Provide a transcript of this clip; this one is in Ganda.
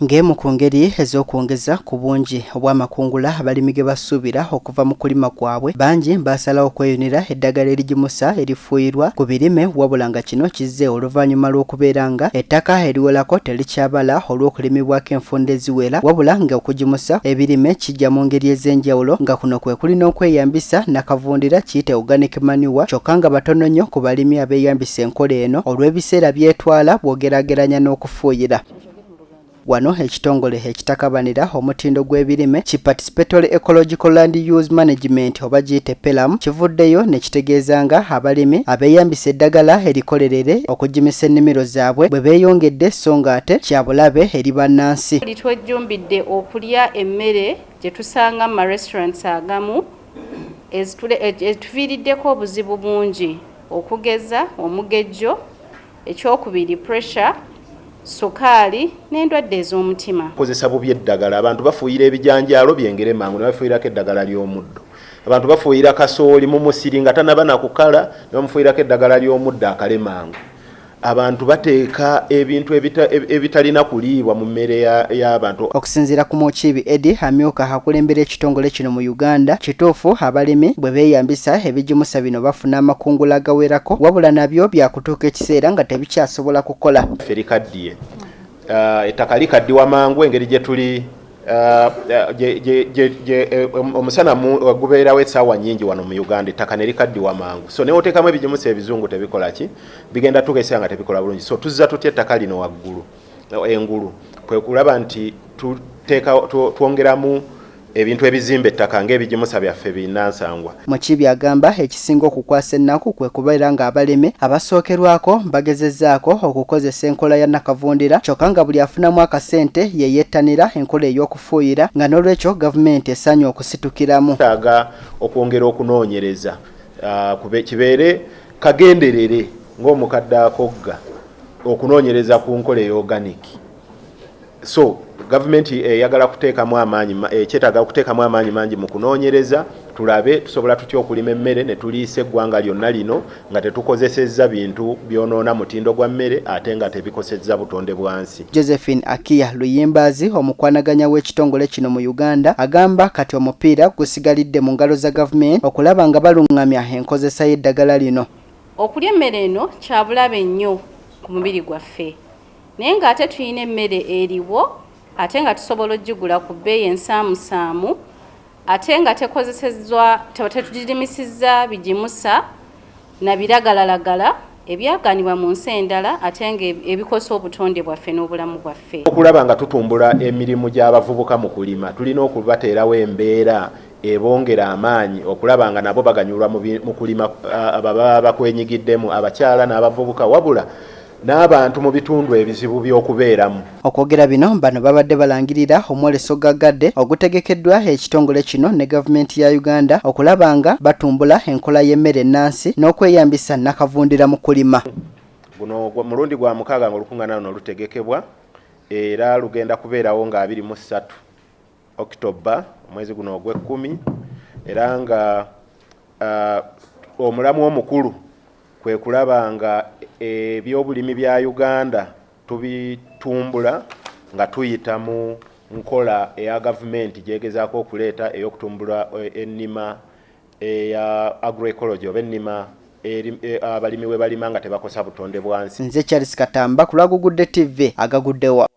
ng'emu ku ngeri ez'okwongeza ku bungi obw'amakungula abalimi ge basuubira okuva mu kulima kwabwe bangi baasalawo okweyunira eddagala erigimusa erifuuyirwa ku birime wabula nga kino kizze oluvannyuma lw'okubeera nga ettaka eriwolako terikyabala olw'okulimibwako enfunda eziwera wabula nga okugimusa ebirime kijja mu ngeri ez'enjawulo nga kuno kwe kuli n'okweyambisa nakavundira kiyite organic manure kyokka nga batono nnyo ku balimi abeeyambisa enkola eno olw'ebiseera byetwala bw'ogerageranya n'okufa okufuuyira. Wano ekitongole ekitakabanira omutindo gw'ebirime ki Participatory Ecological Land Use Management oba giyite PELAM kivuddeyo ne kitegeeza nga abalimi abeeyambisa eddagala erikolerere okugimisa ennimiro zaabwe bwe beeyongedde so ng'ate kya bulabe eri bannansi. Twejjumbidde okulya emmere gye tusanga mu marestaurants agamu etuviiriddeko obuzibu bungi okugeza omugejjo Ekyokubiri pressure, sukaali n'endwadde ez'omutima. Kozesa bubi eddagala. Abantu bafuuyira ebijanjaalo byengere mangu ne bafuuyirako eddagala ly'omuddo. Abantu bafuuyira kasooli mu musiri nga tanaba na kukala ne bamufuuyirako eddagala ly'omuddo akale mangu. Abantu bateeka ebintu ebitalina kuliibwa mu mmere y'abantu. Okusinziira ku Mukiibi Eddie amyuka akulembera ekitongole kino mu Uganda, kituufu abalimi bwe beeyambisa ebigimusa bino bafuna amakungula agawerako wabula nabyo bya kutuuka ekiseera nga tebikyasobola kukola ffe likaddiye uh, ettaka likaddiwa mangu engeri gye tuli uh, uh, omusana gubeerawo essaawa nyingi wano mu uganda ettaka ne likaddiwa mangu so newoteekamu ebigimusa ebizungu tebikolaki bigenda tugesaa nga tebikola bulungi so tuzza tutya ettaka lino waggulu engulu kwe kulaba nti twongeramu ebintu ebizimba ettaka ng'ebigimusa byaffe binnansangwa mukibi agamba ekisinga okukwasa ennaku kwe kubeera ng'abalimi abasookerwako bagezezzaako okukozesa enkola ya nakavundira kyokka nga buli afunamu akasente ye yettanira enkola ey'okufuuyira nga n'olwekyo gavumenti esaanye okusitukiramu taaga okwongera okunoonyereza uh, kibeere kagenderere ng'omukadde akogga okunoonyereza ku nkola eya organic so gavumenti eyagala kuteekamu amaanyi ekyetaaga eh, okuteekamu amaanyi mangi mu kunoonyereza tulabe tusobola tutya okulima emmere ne tuliisa eggwanga lyonna lino nga tetukozesezza bintu byonoona mutindo gwa mmere ate nga tebikosezza butonde bwansi Josephine Akiya Luyimbaazi omukwanaganya w'ekitongole kino mu Uganda agamba kati omupiira gusigalidde mu ngalo za gavumenti okulaba nga balungamya enkozesa y'eddagala lino. Okulya emmere eno kyabulabe nnyo ku mubiri gwaffe naye ng'ate tulina emmere eriwo ate nga tusobola okugigula ku bbeeyi ensaamusaamu ate nga tekozesezwa tetugirimisizza bigimusa na biragalalagala ebyagaanibwa mu nsi endala ate nga ebikosa obutonde bwaffe n'obulamu bwaffe. Okulaba nga tutumbula emirimu gy'abavubuka mu kulima tulina okubateerawo embeera ebongera amaanyi okulaba nga nabo baganyulwa mu kulima baba bakwenyigiddemu abakyala n'abavubuka wabula n'abantu mu bitundu ebizibu by'okubeeramu. Okwogera bino bano babadde balangirira omwoleso gaggadde ogutegekeddwa ekitongole kino ne gavumenti ya Uganda okulaba nga batumbula enkola y'emmere ennansi n'okweyambisa nnakavundira mu kulima. Guno mulundi gwa mukaaga ng'olukungaana luno lutegekebwa era lugenda kubeerawo nga abiri mu ssatu October omwezi guno ogw'ekkumi era nga uh, omulamwa omukulu kwe kulaba nga ebyobulimi bya Uganda tubitumbula nga tuyita mu nkola eya gavumenti gyegezaako okuleeta ey'okutumbula e, ennima eya agroecology oba ennima e, abalimi we balima nga tebakosa butonde bwansi. Nze Charles Katamba ku lwa Gugudde TV agaguddewa.